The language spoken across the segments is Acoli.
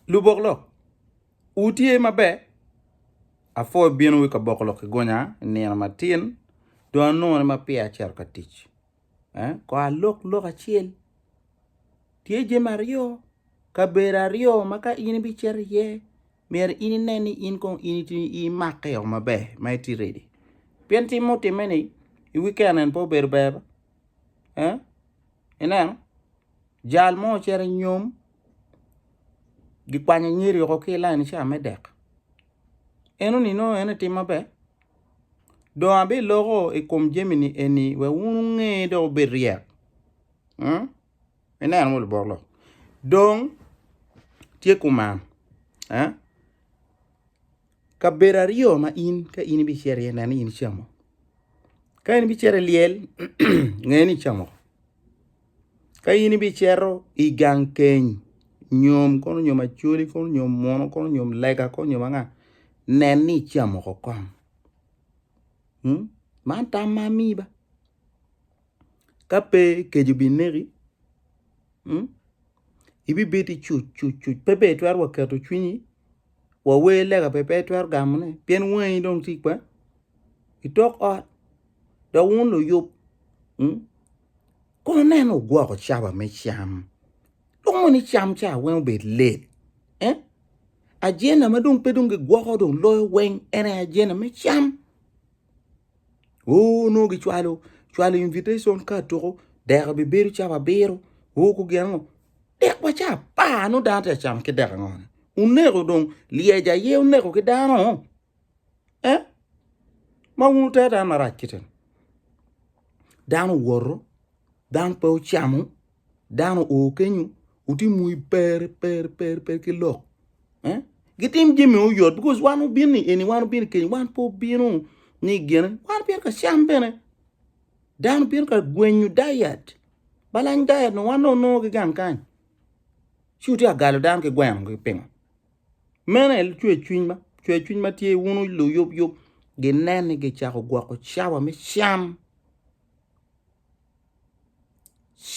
Lubok lok, wutye maber? Apwoyo ibino wa i kaboko lok ki gonya i nino matin dong anongo ni ma peya acito ka tic. Eh? Kor alok lok acel. Tye jami aryo, kabedo aryo ma ka in ibicito iye, myero in inen ni in kong in iti- imake o maber ma iti ready. Pien tim mutimme-ni i wiken eni pe obedo ber ba? Eh? Ineno? Jal mo ocito i nyom gikwanyo nyeri woko ki lain ca me dek enoni nongo en aye tim maber dong abiloko i kom jami ni eni wek wun wunge dok wubed ryek ineno mogo lubot lok dong tye kuman. Kabedo aryo ma in ka in ibicito iye nen ni in icamo. Ka in ibicito i lyel, nge ni icamo. Ka in ibicito i gang keny, nyom kono nyom acoli kono nyom muno kono nyom lega kono nyom anga, nen ni icamo ko kong. Hmm? Man tam ma amiyi ba. Ka pe keco bineki, hmm? ibibedi cuc cuc cuc pe ber twero wa keto cwinyi wawer lega pe pe itwero gamone pien wangi dong tye kwer itok ot dok wun luyub kono neno wugwoko cawa me cam dong mono icam ca weng obed late ajenda madong pe dong gigwoko dong loyo weng en aye ajenda me cam. Oo nongo gicwalo cwalo invitation card tuko dek bibedo cap abiro. Oo ku gin ango? Dek wa ca apar nongo dano tye ka camo ki dek ango-ni? Uneko dong lyec aye uneko ki dano? Eh? Ma wun wutero dano marac kite-ni? Dano owoto, dano pe ocamo. dano oo kenyo otim wi per per per per ki lok eh? gitim jami oyot because wan wubin ni eni wan wubin kenyo wan pe wubino ni gine wan wubin ka cam bene dano wubin ka gwenyo diet balany diet no wan onongo ki gang kany ci wutye ka galo dano ki gweno ki pingo mene cwer cwiny ma cwer cwiny ma tye wunu luyub yub ginen ni gicako gwoko cawa me cam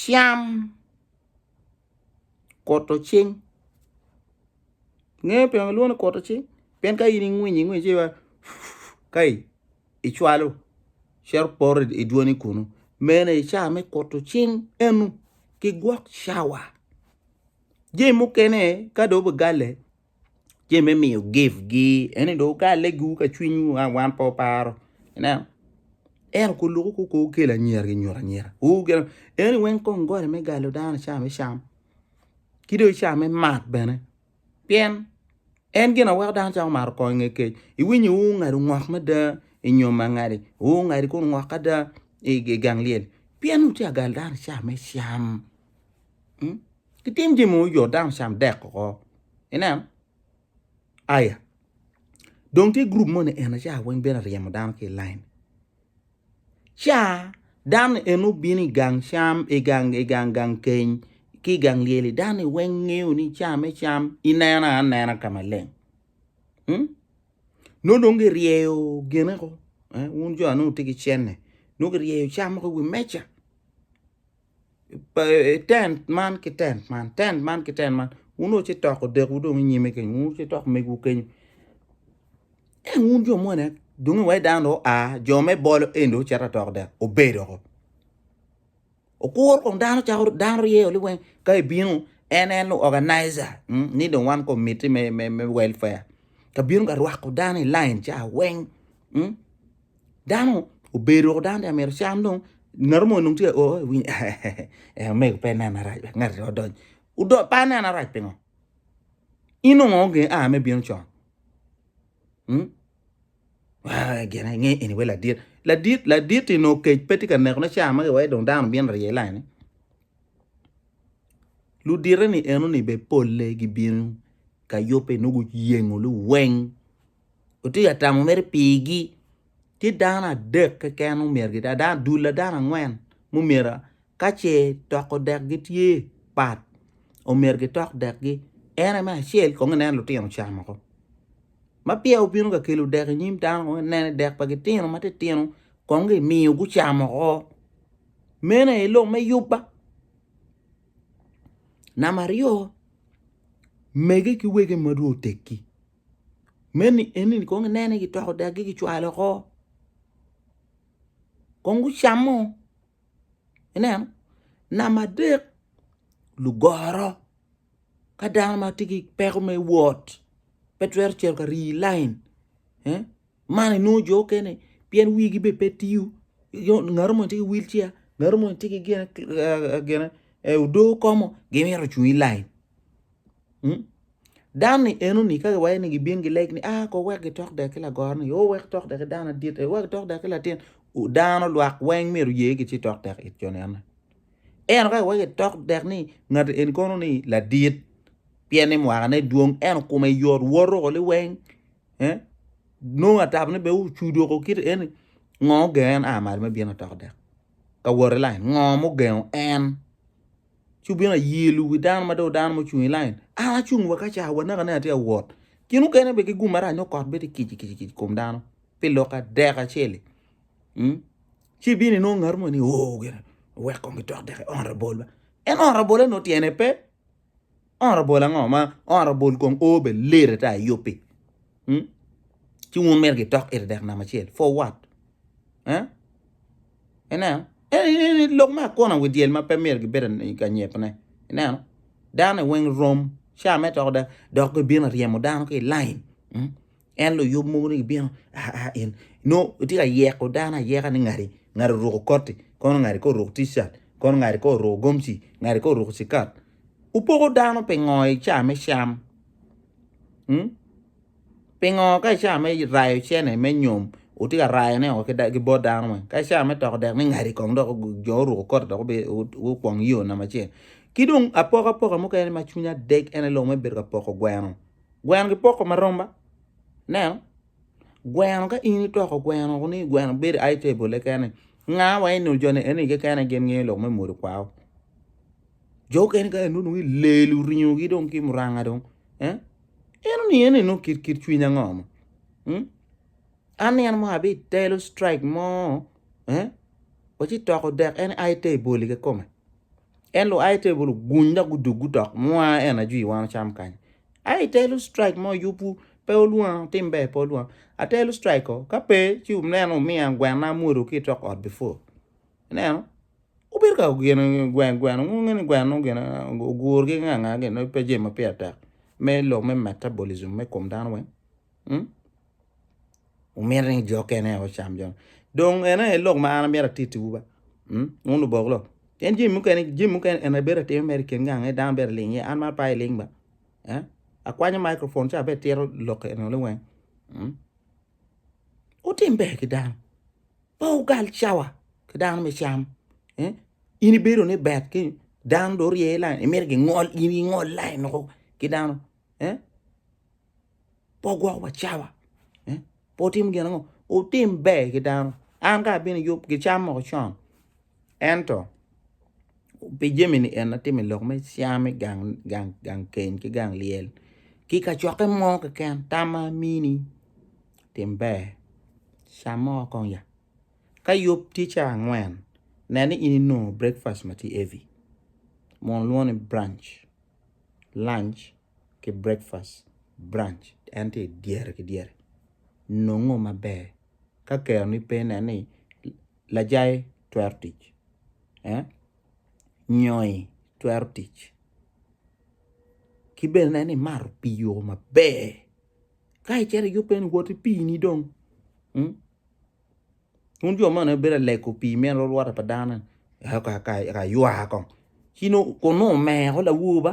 cam koto cing ingeyo ping kilwongo ni koto cing pien ka in ingwinyo ingwinyo ci iwaco kayi icwalo cito poto idwoni kunu mene aye cawa me koto cing eno ki gwok cawa jami mukene ka dong obigale. ce me miyo gift gi ene dong wukale giwu ka cwinywu a wan pe waparo ineno ento ko loko ko ko wukel anyira gi nyuto anyira ur gin eni weng kong goli me galo dano icamo icam ki dong ica me mat bene pien en gin aweko dano cako mato kong inge kec iwinyo ur ngado ngok mada inyo mangadi ur ngadi kun ngok ada igang lyel pien wuca gal dano ica me cam. Gitim jami mogo jo dano cam dek oko. Ineno? Aya. Dong tye grup moni en aca weng bene ryemo dano ki i lain. Ca dano en obino i gang cam, i gang, i gang, gang keny, ki i gang lyeli, dano weng ngeyo ni ca me cam inena anena ka maleng. Hmm? No dong giryeyo gene ko, eh, wun jo anu tye ki cenne, no giryeyo cam ko i wi meja. tent man ki tent man tent man ki tent man wun dong wucitoko odekwu dong inyime kenyo wun wucitoko megwu kenyo ento wun jo moni dong iwaci dano dong oa jo me bolo eni dong ocito atoko dek obedo woko okuro kong dano calo dano ryeo ni weng ka ibino en en oganiza ni dong wan komiti me welfare ka bino ka rwako dano i lain ca weng. Dano obedo woko dano tye mito can dong ngat mo nung tye o iwiny ee omego pe nena rac wek ngati odony odony pa nena rac pingo in ongo onge a me bino con hmm? Ah, gene nge eni we ladit ladit ladit ti no kec pe tye ka neko ne caa magi wai dong dano bino rye lai ni ludite ni eno ni be polle gibino ka yubbe nugu yengo luweng otye ka tamo mere pigi tye dano adek keken ma omyero gitye dano adek dul dano angwen ma omyero ka ce toko dek gi tye pat omyero gitok dek gi en aye me acel kong ineno lutino ocamo woko ma peya obino ka kelo dek inyim dano kong ineno ni dek pa gitino ma titino kong gimiyo gucamo woko meno aye lok me yubba namba aryo mege ki wege madong oteggi. meni eni kong inene gitoko dagi gicwalo oko kong gucamo ineno namba adek lugoro ka dano ma tye ki peko me wot pe twero cito ka rii lain man inongo jo mukene pien wigi bene pe tiyo ngato moni tye ki wil ceya ngato moni tye ki gin odoo komo gimito cung i lain. Hmm? Dan ni enoni ka giwaye ni gibin gileg ni ah ko wek gitok dek ki lagoro ni o wek tok dek ki dano adit e wek tok dek ki latin dano lwak weng myero ye ki ci tok dek it jo nene eno ka giwaye gitok dek ni ngat en kono ni ladit pien ni mwakane dwong eno kume yot woto ko li weng eh nongo atabo ni be ucudo ko kit eni ngo gen a malo me bino tok dek ka wot i lain? Ngo mugengo en? Ci wubino ayelu wi dano ma dong dano mucung i lain. An acung wa kaca wanaka ne atye awot. Gin mukene be ki gum marac nyo kot bedi kic kic kic kom dano pi lok adek aceli. Mm? Ci bini inongo ngat mo ni oh gene wek kong gitok deke honorable ba. En honorable no tyene pe. Honorable ango ma honorable kong o be ler ata i yupi hmm? ci wun mito gitok ite dek nama acel for what eh? ineno eni lok me akona wi dyel ma pe myero gibedo i kanyepone ineno dano weng rom ca me toko da dok gibino ryemo dano ki i lain hmm? En luyub mogo ni gibino aa in nongo itye ka yeko dano ayeka ni ngati ngati oruko koti kono ngati kong oruk ticat kono ngati kong oruko gomci ngati kong oruko cikat wupoko dano pingo i caa me cam mm pingo ka i caa me rayo cene me nyom wutye ka rayone o ki bot dano weng ka i caa me toko dek ni ngati kong dok jo oruko koti dok gukwong yo namba acel ki dong apokapoka mukene ma cwinya dec en aye lok ma ibedo ka poko gweno Gweno gipoko ma romba. Neno. Gweno ka in itoko gweno ni gweno bedo ai table kene. Nga wa eno jone eno kekene gin ngeyo lok me mori kwao. Jo kene ka eno ngi lelu ringo gi dong ki muranga dong. Eh? Eno ni eno eno kit kit cwinya ngoma. Hmm? An eno mo abi telo strike mo. Eh? Wachi toko dek en ai table ke kome. En lo ai table guny da gudug gutok mwa eno ajwi wano cham kany. Ai telo strike ma oyubu pe olwonga otim ber pe olwonga atelo strike o kape ci ineno omiya gwena amwodo ki itok ot before ineno obedo ka gene gwen gwen wun wunge ni gwen nongo gin ogur ki nga nga gin pe jami ma pire tek me lok me metabolism me kom dano weng. Wumito ni jo okene aye ocam jo. Dong ene aye lok ma an amito atittiwu ba. Mm? Wun lubok lok. Pien jami mukene, jami mukene en aye bedo atimo mere i kin gang aye dano bedo aling iye. An man pe aye ling ba. Eh? Akwanyo microphone ci abe tito lok eno ni weng. Mm? Wutim ber ki dano. Pe wugal cawa ki dano me cam. Eh? In ibedo ni bet ki dano do rye lain, imito gingol, in ingol lain loko ki dano. eh? pe ogwoko wa cawa eh? pe otimo gin ango otim ber ki dano an ka abino yub gicam moko con ento pi jemini en atimo i lok me cam me gang, gang, gang keny ki gang lyel ki kacokke mo keken tamma amini tim ber cam moko kong ya ka yub tye ca angwen neni in inongo breakfast ma tye heavy mono lwongo ni branch lunch ki breakfast, brunch en tye idyere ki dyere nongo maber ka keroni pe nen ni lajayi twero tic nyoi twero tic ki bene nen ni imato pii yoo maber ka icito iyubbe ni woti pii ni dong Wun jo man bedo alego pii me lwolwota pa dano ka ywa kong ci nongo kun nongo omeko lawor ba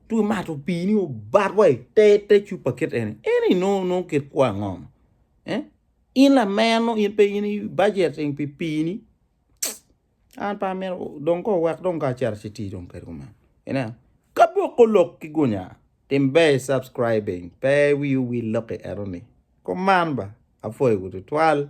ci omato pii ni obat wa i te te cupa kit eni eni nongo nongo kit kwo ango ni in lameno in pe in ibajeti pi pii ni. An pe amito dong kong wek dong kong acito ci tii dong kede kumeno. Ineno? Ka boko lok ki gunya, tim ber i subscribing, pe wiu wil lok i eno ni. Kuman ba, apwoyo wu tutwal.